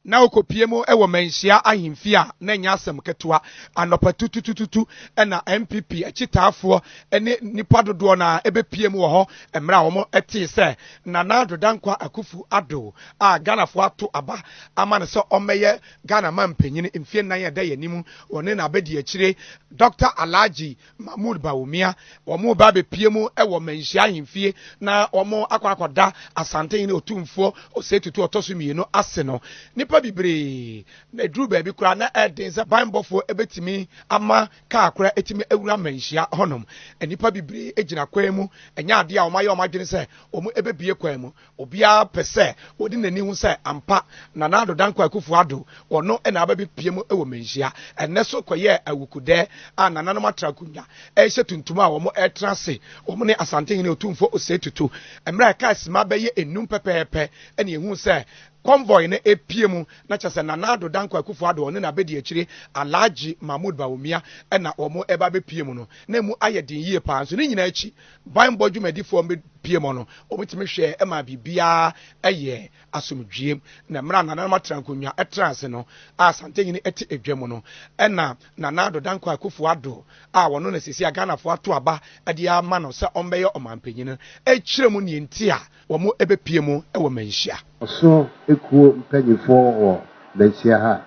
Ná wokopue mu wɔ Manhyia Ahemfie a na ɛnyɛ asɛm ketewa. Anɔpa tututututu na NPP akyitaafoɔ ne nnipa dodoɔ no ara bɛpue mu wɔ hɔ mmerɛ a wɔtee sɛ Nana Addo Dankwa Akuffo Addo a Ghanafoɔ ato aba ama no sɛ ɔmmɛyɛ Ghana manpanin mfeɛ nnan a ɛda yɛn anim wɔ ne n'abadiakyire Dɔkta Alhaji Mahmoud Bawumia, wɔreba abɛpue mu wɔ Manhyia ahemfie na wɔakɔ akɔda Asantehene Otumfoɔ Osei Tutu ɔtɔ so mmienu ase no, nnipa bebree na ɛduru baabi koraa na ɛyɛ den sɛ banbɔfoɔ bɛtumi ama kaa koraa atumi awura Manhyia hɔnom. Nnipa bebree gyina kwan mu, ɛnyɛ adeɛ a wɔayɛ wɔn adwene sɛ wɔbɛbue kwan mu. Obiara pɛ sɛ ɔdi n'ani ho sɛ ampa na Nado Dankwa Akufo-Addo, ɔno na aba abɛpuem wɔ Manhyia. Ɛnnɛ so kɔyɛɛ awukodɛ a nananom atra akonnwa rehyɛ tuntum a wɔretena ase, wɔn ne Asantehene Otumfoɔ Osei Tutu. Mmerɛ a ɛkaa simma bɛyɛ nnum pɛpɛɛpɛ na yɛhuu sɛ convoy no repue mu, na kyerɛ sɛ Nana Addo Dankwa Akufo-Addo, ɔne n'abɛdiakyire Alhaji Mahmood Bawumia na wɔreba abɛpue mu no, na ɛmu ayɛ den yie pa ara. Nso ne nyinaa akyi, Banbɔ dwumadifoɔ a wɔbɛpue mu no, wɔtumi hwɛɛ maa biribiara yɛɛ asomdwoeɛ. Na mmerɛ a Nananom Atrankonnwa traa ase no, a Santanyini te adwa mu no, ɛna Nana Addo Dankwa Akuffo Addo a ɔno na seesei a Ghanafoɔ ato aba de ama no sɛ ɔmmɛyɛ ɔmanpanin no kyerɛɛ mu deɛ nti a Wɔbɛpue mu wɔ manhyia. Ɔsoro ekuo mpaninfoɔ wɔ manhyia ha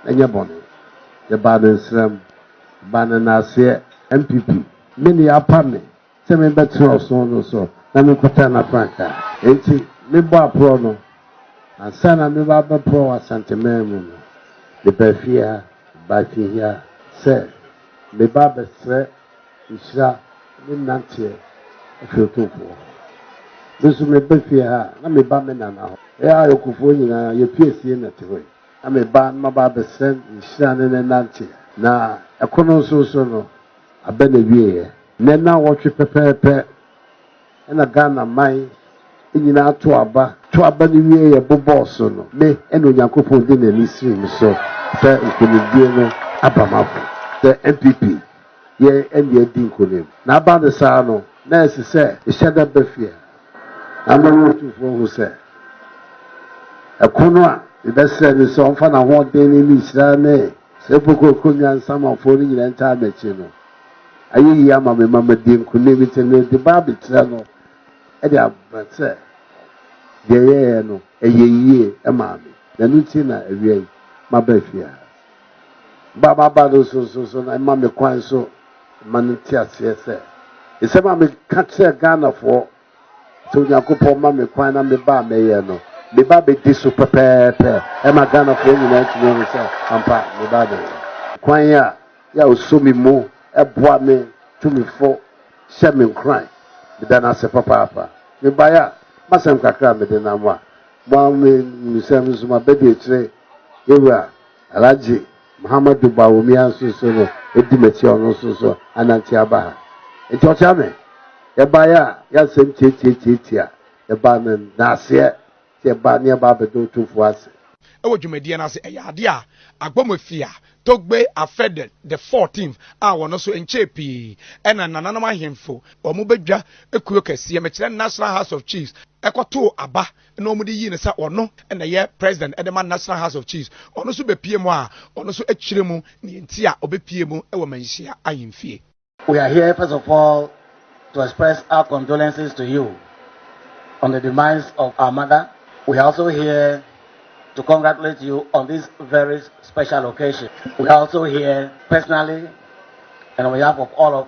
ɛnyɛ bɔne yɛbaa no nsram baa no naaseɛ NPP. Me ne yɛapa me sɛ me bɛ tena ɔsono no so na me kɔtaa na frankaa enti me bɔ aporɔ no ansa na me ba abɛ porɔ wɔ asanteman mu no me baa fie ha baa fie hia sɛ me ba abɛ srɛ Nhyira ne nnanteɛ afiri Otumfoɔ hɔ. Me nso meba fie ha a, na meba me nana hɔ. Yɛn ayɔnkofoɔ nyinaa, yɛpue fie na ɛte hɔ yi. Na meba na maba abɛsrɛ nhyira ne ne nnanteɛ. Na ɛko no nso so no, abɛ na ɛwieeɛ. Nnɛ nnawɔtwe pɛpɛɛpɛ na Ghana man nyinaa to aba. To aba no wieeɛ bobɔɔ so no, me na Onyankopɔn de n'ani sirii me so sɛ nkunimdie no aba m'afo sɛ NPP. yɛn ani adi nkonim. Na aba no saa no, na ɛsɛ sɛ mehyɛ da ba fie na ama me Otufo ahu sɛ ɛko no a mebɛsrɛ no sɛ ɔmfa n'ahoɔden ne ne nhyira ne sɛ mpo kooko nnya nsamanfo no nyinaa ntaa m'akyi no ayɛ yiye ama me ma madi nkonim. Enti mede ba abɛkyerɛ no de ama sɛ deɛ yɛyɛeɛ no, ɛyɛɛ yiye maa me, na ɛno nti na awia yi maba fie ha. ba a maba no so nso so na ɛma me kwan so ma no nte aseɛ sɛ nsɛm a meka kyerɛ Ghanafoɔ sɛ Onyankopɔn ma me kwan na meba a mɛyɛ no meba bɛdi so pɛpɛɛpɛ ɛma Ghanafoɔ nyinaa tumi ahu sɛ ampa meba bɛyɛ kwan a yɛ a ɔsɔ me mu ɛboa me tumifo hyɛ me nkuran meda no ase papaapa mebaeɛ a masɛm kakra a mede nam a mo a me nsɛm nso mabɛdi akyire Yewura Alhaji Muhammadu Bawumia nso so no di m'akyi a ɔno nso so anante aba ha. Nti ɔkyea me. Yɛbaeɛ a yɛ asɛm tiatiatiatia a yɛbaa no naaseɛ sɛ yɛbaa ne yɛba abɛda Otumfoɔ ase. Wɔ dwumadie no ase, ɛyɛ adeɛ a Agbomofiaa Togbe Afede the Fourteenth a wɔn nso nkyɛɛ pii na nananom ahemfo wɔn badwa kuo kɛseɛ, mekyerɛ National House of Chiefs, kɔtoo aba na wɔde yii no sɛ ɔno na ɛyɛ president de ma National House of Chiefs. Ɔno nso bepue mu a, ɔno nso kyerɛ mu nea enti a ɔbepue mu wɔ Manhyia Ahemfie. We are here first of all to express our condolences to you on the demise of our mother, we are also here to congratulate you on this very special occasion, we are also here personally and on behalf of all of